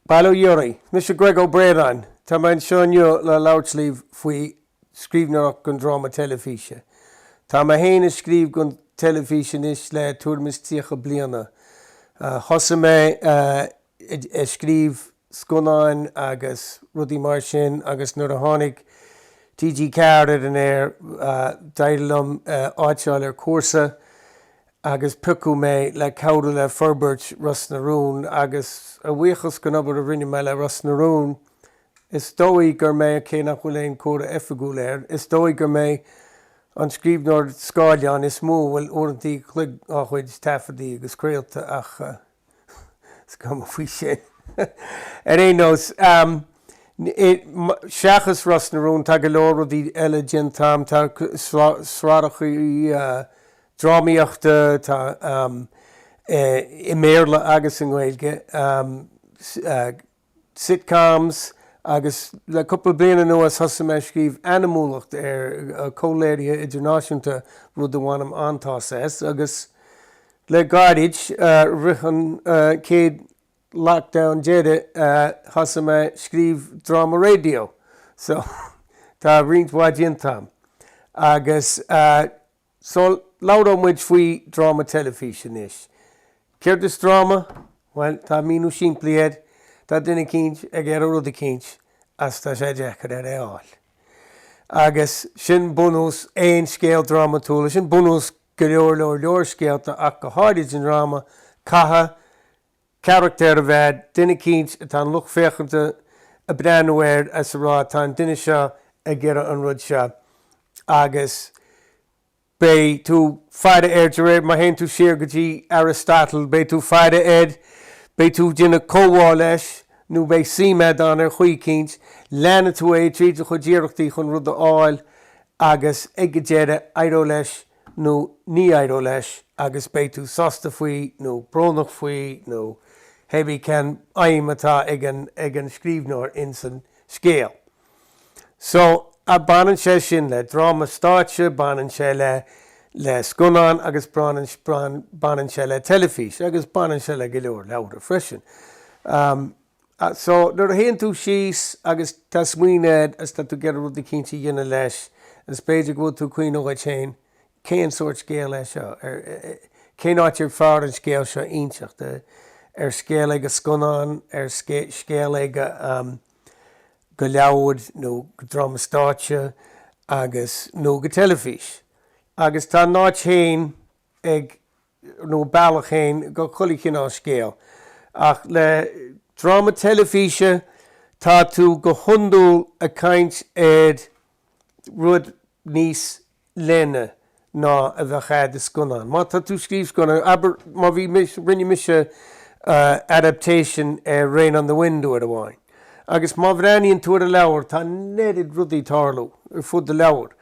Bail ó Dhia oraibh. Mise Greg Ó Braonáin. Tá mé anseo inniu le labhairt libh faoi scríbhneoireacht don dráma teilifíse. Tá mé féin ag scríobh don teilifís anois le tuairim is tríocha bliana. Thosaigh mé. ag scríobh scannáin agus rudaí mar sin agus nuair a tháinig TG4 ar an aer d'éirigh liom áit a fháil ar chúrsa agus piocadh mé le cabhrú le forbairt Ros na Rún agus a bhuíochas den obair a rinne mé le Ros na Rún is dóigh gur mé, cé nach bhfuil aon chomhaireamh oifigiúil air, is dóigh gur mé an scríbhneoir scáileáin is mó a bhfuil uaireanta an chloig dá chuid taifeadta agus craolta ach. Is cuma faoi sin. Ar aon nós, seachas Ros na Rún, tá go leor rudaí eile déanta agam. Tá sraitheacha drámaíochta, tá i mBéarla agus i nGaeilge. sitcoms agus le cúpla bliain anuas thosaigh mé ag scríobh anamúlacht ar chomhléirithe idirnáisiúnta, rud a bhainim an-taitneamh as, agus le gairid, i rith an chéad lockdown deiridh, thosaigh mé ag scríobh dráma raidió, so tá roinnt mhaith déanta agam. Agus. So, labhróidh muid faoi dráma teilifíse anois. Céard is dráma? Bhuel, tá míniú simplí air, tá duine eicínt ag iarraidh rud eicínt agus tá sé deacair air é a fháil. Agus sin bunús aon scéal drámatúil, sin bunús go leor leor leor scéalta ach go háirid i ndráma, caithfidh, carachtair a bheith, duine eicínt atá an lucht féachanta ag breathnú air is ag rá tá an duine seo ag iarraidh an rud seo agus beidh tú ag faire air de réir, má théann tú siar go dtí Aristotle, beidh tú ag faire air, beidh tú ag déanamh comhbhá leis nó beidh suim agat ann ar chaoi eicínt, leanfaidh tú é tríd a chuid iarrachtaí chun an rud a fháil agus ag an deireadh éireoidh leis nó ní éireoidh leis agus beidh tú sásta faoi nó brónach faoi nó hé bí cén aidhm atá ag an scríbhneoir ins an scéal. So, baineann sé sin le dráma stáitse, baineann sé le scannán agus baineann sé le teilifís agus baineann sé le go leor leabhra freisin. So, nuair a théann tú síos agus tá smaoineamh a'd agus tá tú ag iarraidh rudaí cinnte a dhéanamh leis agus b'fhéidir go bhfuil tú ag cuimhniú dhuit féin, cén sórt scéal é seo? Ar, cén áit is fearr an scéal seo a inseacht? Ar scéal é go scannán, ar scéal é go, go leabhar nó go dráma stáitse agus, nó go teilifís? Agus tá a n-áit féin ag. nó bealach féin go chuile chineál scéal. Ach le dráma teilifíse tá tú go hiondúil ag caint ar rud níos leithne ná a bheadh agat i scannán. Má tá tú ag scríobh scannáin, abair, má bhí mise, rinne mise adaptation ar Rain on the Wind uair amháin agus má bhreathnaíonn tú ar an leabhar tá an oiread rudaí ag tarlú ar fud an leabhair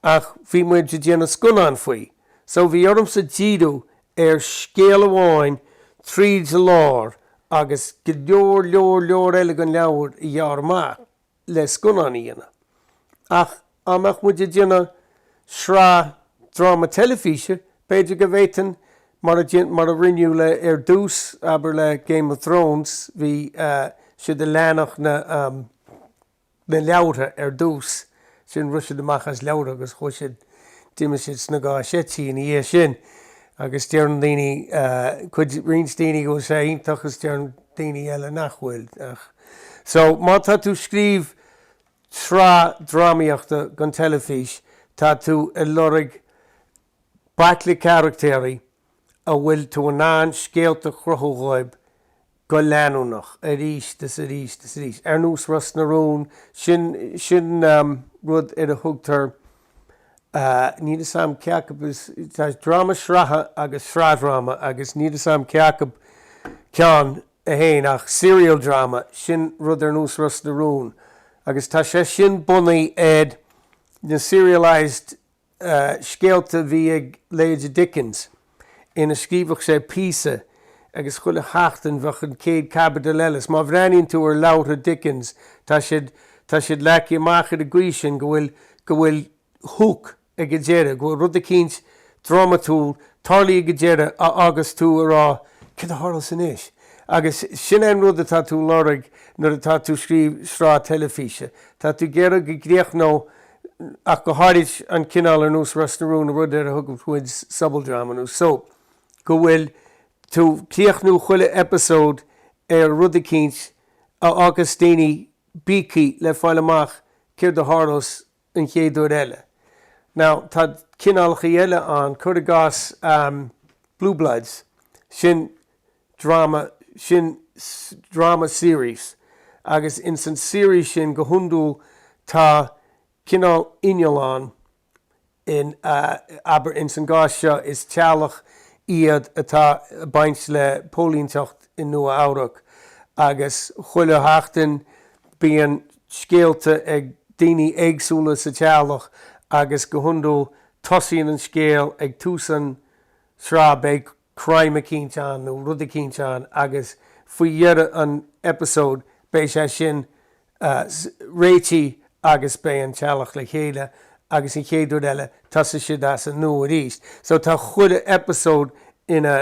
ach bhí muid ag déanamh scannáin faoi. So bhí ormsa díriú ar scéal amháin tríd lár agus go leor leor leor eile den leabhar a ghearradh amach le scannán a dhéanamh. Ach dhá mbeadh muid ag déanamh sraith dráma teilifíse, b'fhéidir go bhféadfainn, mar a déan, mar a rinneadh le, ar dtús, abair le Game of Thrones, bhí siad ag leanacht na, na leabhartha ar dtús. Ansin rith siad amach as leabhartha agus chuaidh siad, d'imigh siad sna gáinní seití ina dhiaidh sin agus deireann daoine, cuid, roinnt daoine go bhfuil sé iontach is deireann daoine eile nach bhfuil ach. So, má tá tú ag scríobh sraith drámaíochta don teilifís tá tú ag lorg baicle carachtéirí a bhfuil tú in ann scéalta a chruthú dhóibh go leanúnach, arís is arís is arís. Ar nós Ros na Rún, sin, sin rud ar a dtugtar, níl 'fhios a'm cé acu is, tá dráma sraithe agus sraithdhráma agus níl 'fhios a'm cé acu ceann é féin ach serial drama, sin rud ar nós Ros na Rún agus tá sé sin bunaithe ar na serialised, scéalta a bhí ag leithéide Dickens go scríobhadh sé píosa agus chuile sheachtain bheadh an chéad chaibidil eile. Is má bhreathnaíonn tú ar leabhartha Dickens tá siad, tá siad leagtha amach ar an gcaoi sin go bhfuil, go bhfuil hook ag an deireadh, go bhfuil rud eicínt drámatúil ag tarlú ag an deireadh a fhágas tú ag rá céard a tharlós anois? Agus sin é an rud atá tú a lorg nuair atá tú ag scríobh sraith teilifíse. Tá tú ag iarraidh go gcríochnódh ach go háirid an cineál ar nós Ros na Rún, rud ar a dtugann muid sobaldráma nó soap, go bhfuil tú ag críochnú chuile eipeasóid ar rud eicínt a fhágas daoine bíogthaí le fáil amach céard a tharlós an chéad uair eile. Now, tá cineálacha eile ann, cuir i gcás Blue Bloods, sin drama, sin drama series agus ins an series sin go hiondúil tá cineál inneall ann in, abair ins an gcás seo is teaghlach iad atá a' baint le póilínteacht i Nua Eabhrac agus chuile sheachtain bíonn scéalta ag daoiní éagsúla sa teaghlach agus go hiondúil tosaíonn an scéal ag tús an tsraith beidh crime eicínt ann nó rud eicínt ann agus faoi dheireadh an episode beidh sé sin réitithe agus beidh an teaghlach le chéile agus an chéad uair eile tosóidh siad as an nua arís. So tá chuile episode ina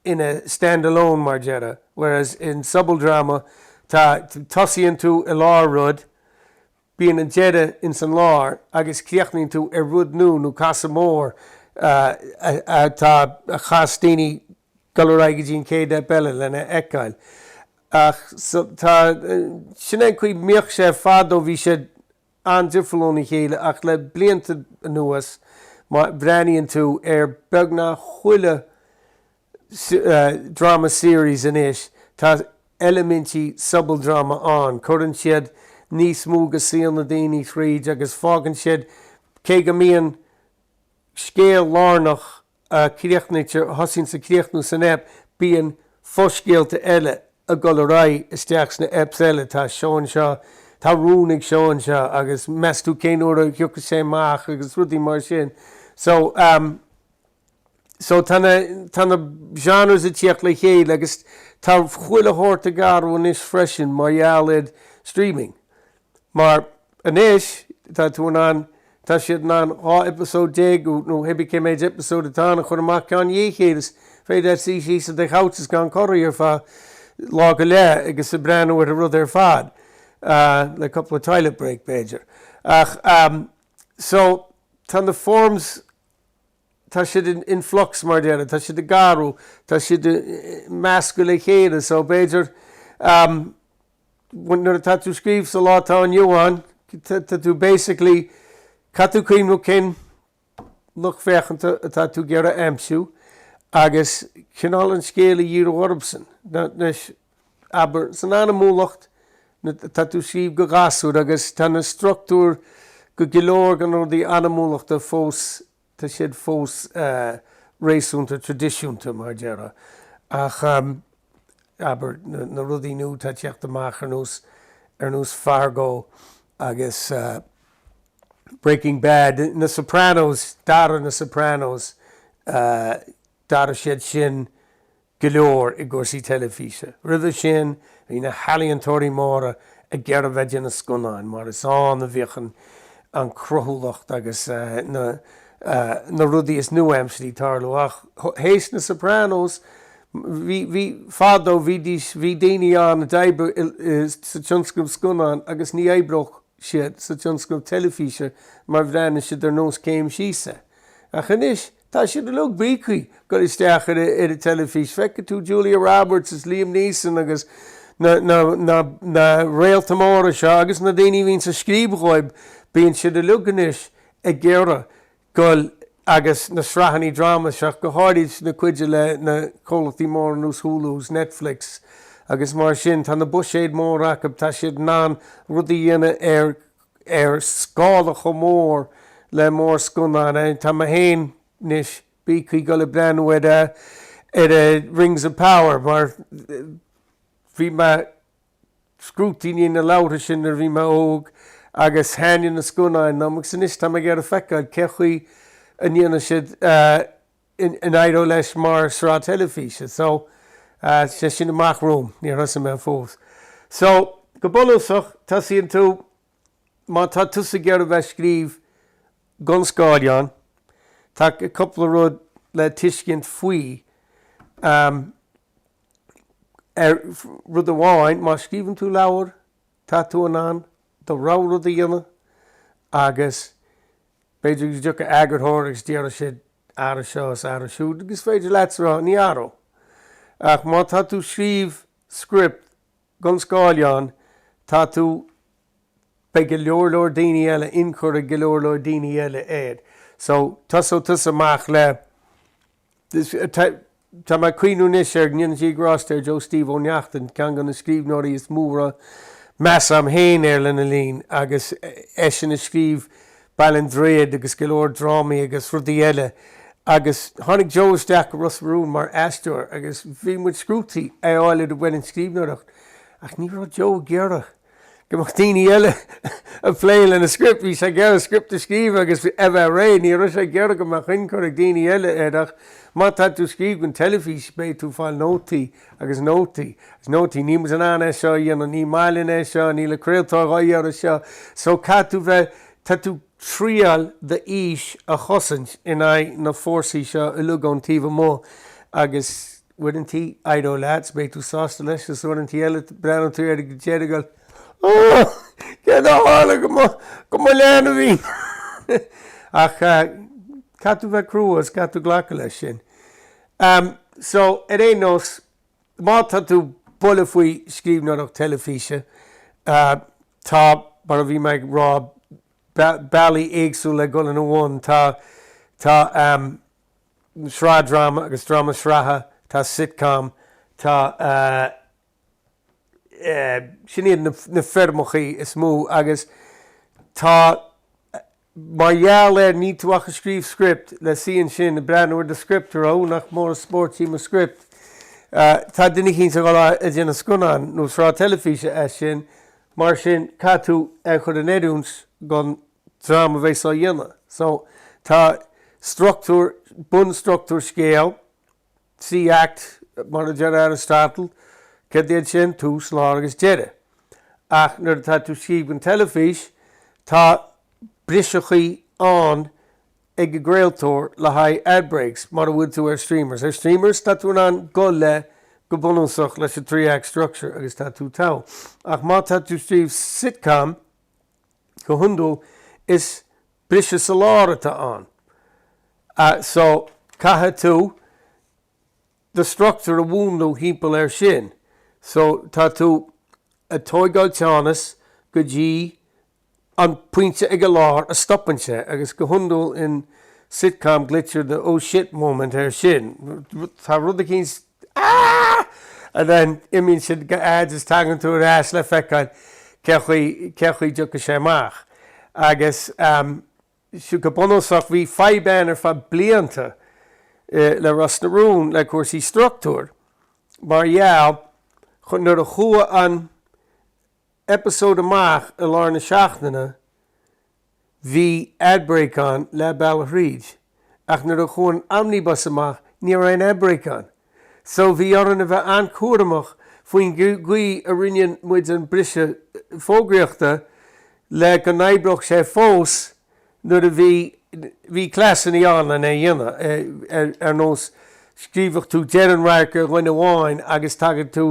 ina stand-alone mar a déarfá whereas in sobaldráma tá tosaíonn tú i lár rud Bíonn an deireadh ins an lár agus críochnaíonn tú ar rud nua nó casadh mór atá ag cas daoine a dhul ar aghaidh go dtí an chéad eip eile lena fheiceáil. Ach so tá, sin é an chaoi a mbíodh sé. Fadó bhí siad an-difriúil óna chéile ach le blianta anuas má bhreathnaíonn tú ar beagnach chuile, drama series anois. Tá eilimintí sobaldráma ann. Cuireann siad níos mó de shaol na ndaoine thríd agus fágann siad cé go mbíonn scéal lárnach a chríochnaí a thosaíonn is a chríochnaíonn san eip bíonn fo-scéalta eile ag dul ar aghaidh isteach sna eps eile. Tá Seán seo, tá rún ag Seán seo agus meas tú cén uair a thiocfaidh sé amach agus rudaí mar sin. So. So tá na, tá na genres ag tíocht le chéile agus tá chuile shórt ag athrú anois freisin mar gheall ar streaming. Mar anois tá tú in ann, tá siad in ann 12 eipeasóid nó pé ar bith cé méid eipeasóid atá ann a chur amach ceann i ndiaidh a chéile is féidir leat suí síos i do couch is gan corraí ar feadh lá go leith agus ag breathnú ar an rud ar fad ah, le cúpla toilet break b'fhéidir. Ach, so tá na forms tá siad in in flux mar a déarfá, tá siad ag athrú, tá siad measctha le chéile so b'fhéidir nuair atá tú ag scríobh sa lá atá inniu ann tá tú basically caithfidh tú cuimhneamh cén lucht féachanta atá tú ag iarraidh a aimsiú agus cineál an scéal a dhíriú orthusan. Abair, san animation, tá tú ag scríobh do ghasúir agus tá na struchtúir go, go leor de na rudaí animation fós, tá siad fós réasúnta tradisiúnta, mar a déarfá. Ach, abair, na rudaí nua atá ag teacht amach ar nós, ar nós Fargo agus Breaking Bad, na Sopranos, d'athraigh na Sopranos, d'athraigh siad sin, go leor i gcúrsaí teilifíse. Roimhe sin, bhí na healaíontóirí móra ag iarraidh bheith leis na scannáin mar is ann a bhíodh an cruthúlacht agus na rudaí is nua-aimseartha a' tarlú. Ach th'éis na Sopranos, bhí, fadó, bhídís, bhí daoine ann a d'oibrigh sa tionscnamh scannáin agus ní oibreodh siad sa tionscnamh teilifíse mar bhreathnaigh siad ar nós céim síos é. Ach anois, Tá siad uilig bíonn siad ag goil isteach ar an teilifís, feicfidh tú Julia Roberts is Liam Neeson agus na réalta móra seo agus na daoine a bhíonn ag scríobh dhóib, bíonn siad uilig anois ag iarraidh dul agus na sraitheannaí dráma seo, go háirid an chuid le na comhlachtaí móra nós Hulu is Netflix agus mar sin, tá na buiséid móra acu, tá siad in ann rudaí a dhéanamh ar ar scála chomh mór le mórscannáin. Tá mé féin, anois ag bíogadh le goil ag breathnú ar ar Rings of Power mar bhí mé scrúdtaí i ndiaidh na leabhartha sin nuair bhí mé óg agus thaitnigh na scannáin liom agus anois tá mé ag iarraidh feiceáil cé chaoi a ndéanfaidh siad an éireoidh leis mar sraith teilifíse so sé sin amach romham níor thosaigh mé fós so go bunúsach tosaíonn tú má tá tusa ag iarraidh bheith scríobh gon scáileán tá cúpla rud le tuiscint faoi ar rud amháin má scríobhann tú leabhar tá tú in ann do rogha rud a dhéanamh agus B'fhéidir go dtiocfaidh eagarthóir agus déarfaidh sé ara seo is athraigh siúd agus is féidir leatsa rá ní athród. Ach má tá tú scríobh script gon scáileán tá tú beidh go leor leor daoine eile ionchur ag go leor leor daoine eile air. So tosóidh tusa amach le. Tá mé ag cuimhniú anois ar ndéana Dia grásta air, ar Joe Steve Ó Neachtain, ceann de na scríbhneoirí is mó a raibh meas agam féin air lena linn agus eisean a scríobh Baile an Droichid agus go leor drámaí agus rudaí eile. Agus tháinig Joe isteach go Ros na Rún mar aisteoir agus bhí muid scrúdtaí é a fháil ar an bhfoireann scríbhneoireacht ach ní raibh Joe ag iarraidh. Go mbeadh daoine eile ag plé lena script. Bhí sé ag iarraidh script a scríobh agus a bheith réidh. Ní raibh sé ag iarraidh go mbeadh ionchur ag daoine eile air ach má tá tú ag scríobh don teilifís beidh tú ag fáil nótaí agus nótaí agus nótaí. Níl muid in ann é seo a dhéanamh. Ní maith linn é seo. Níl an craoltóir dhá iarraidh seo. So caithfidh tú bheith, tá tú. triail d'fhís a chosaint in aghaidh na fórsaí seo uilig ón taobh amuigh agus. uaireantaí éireoidh leat is beidh tú sásta leis is uaireantaí eile breathnóidh tú air ag deireadh agus Óóó! Céard a tharla do mo, do mo leanbhín! Ach caithfidh tú bheith crua is caithfidh tú glacadh leis sin. Um, so, ar aon nós, má tá tú bulla faoi scríbhneoireacht teilifíse, uh, tá, mar a bhí mé ag rá, bealaí éagsúla le dul ina bhun. Tá, tá um, sraith dráma agus dráma sraithe, tá sitcom, tá sin iad na foirmeacha is mó agus tá mar gheall air níl tú ag scríobh script le suí ansin ag breathnú ar do script ó nach mór an spóirt í mo script. Tá duine eicínt ag dul ag déanamh scannán nó sraith teilifíse as sin mar sin caithfidh tú é a chur in oiriúint don dream a bheas á dhéanamh. So, tá structúr, bunstructúr scéal, three act mar a deir Aristotle, céard iad sin? Tús, lár agus deireadh. Ach nuair atá tú ag scríobh don teilifís, tá briseachaí ann ag an gcraoltóir le haghaidh ad breaks mara bhfuil tú ar streamers. Ar streamers, tá tú in ann dul le, go bunúsach, leis an three act structure agus tá tú togha. Ach má tá tú ag scríobh sitcom, Go hiondúil is briseadh sa lár atá ann so caithfidh tú do structúr a mhúnlú thimpeall air sin. So tá tú ag tóigeáil teannas go dtí an pointe ag a lár a stopann sé agus go hiondúil in sitcom glaoitear the oh shit moment air sin. Tá rud eicínt and then imíonn siad go ads is tagann tú ar ais le feiceáil cén chaoi, cén chaoi a dtiocfaidh sé amach agus ehm so go bunúsach bhí fadhb ann ar feadh blianta eh le Ros na Rún le cúrsaí structúir mar gheall nuair a chuaigh an episode amach i lár na seachtaine, Bhí ad break ann leath bealach thríd, ach nuair a chuaigh an omnibus amach ní raibh aon ad break ann. So bhí orainn a bheith an-chúramach faoin gcaoi a roinneann muid an briseadh fógraíochta le go n-oibreodh sé fós nuair a bhí, bhí cleasannaí ann lena a dhéanamh, ar nós scríobhadh tú deireadh an radharc ar dhuine amháin agus tagadh tú,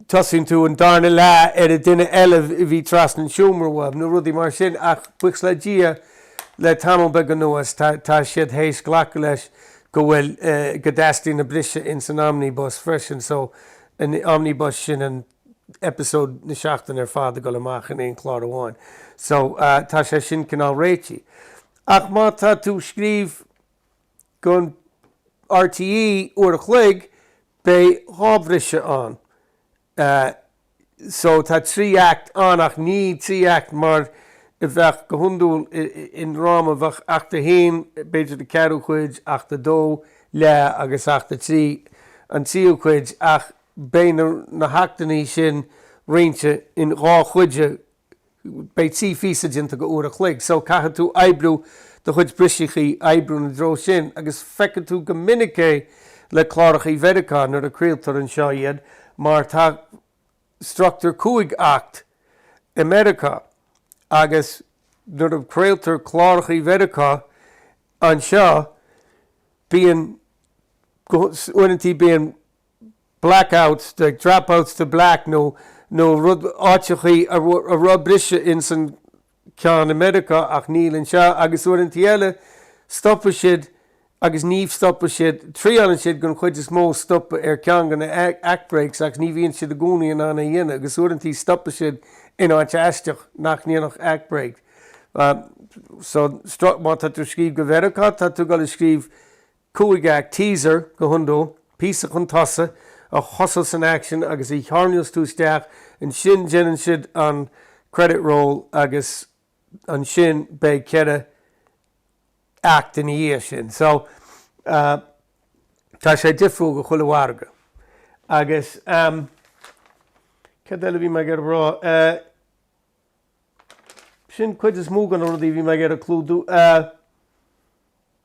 tosaíonn tú an darna leath ar an duine eile a bhí trasna an seomra uaidh, nó rudaí mar sin, ach buíochas le Dia, le tamall beag anuas, tá, tá siad théis glacadh leis go bhfuil, go dteastaíonn an briseadh ins an omnibus freisin, so, an omnibus sin an episode na seachtaine ar fad ag dul amach in aon chlár amháin. So, tá sé sin cineál réitithe. Ach má tá tú ag scríobh. do RTÉ uair a chloig beidh dhá bhriseadh ann so tá trí act ann ach ní trí act mar a bheadh go hiondúil i ndráma a mbeadh act a haon b'fhéidir an ceathrú cuid act a dó leath agus act a trí an tríú cuid ach beidh na hactannaí sin roinnte in dhá chuid a beidh trí phíosa déanta d'uair a chloig so caithfidh tú oibriú do chuid briseachaí oibriú ina dtreo sin agus feiceann tú go minic é le clárachaí Mheiriceá nuair a craoltar anseo iad mar tá structure cúig act i Meiriceá agus nuair a craoltar clárachaí Mheiriceá anseo bíonn uaireantaí bíonn blackouts, dropout to black, áiteachaí a raibh briseadh ins an ceann i Meiriceá ach níl anseo agus uaireantaí eile stopann siad agus ní stopann siad, triáileann siad den chuid is mó stopadh ar ceann de na act breaks agus ní bhíonn siad i gcónaí in ann é dhéanamh agus uaireantaí stopann siad in áit aisteach nach ndéanfadh act break. So má tá tú scríobh do Mheiriceá tá tú ag dul ag scríobh 5 act teaser, go hiondúil, píosa chun tosaigh, a thosós san action agus a tharraingeos tú isteach, ansin déanann siad an credit roll agus ansin beidh 4 act ina dhiaidh sin. So tá sé difriúil do chuile mhargadh. Agus céard eile a bhí mé ag iarraidh rá? Sin cuid is mó de na rudaí a bhí mé ag iarraidh clúdú.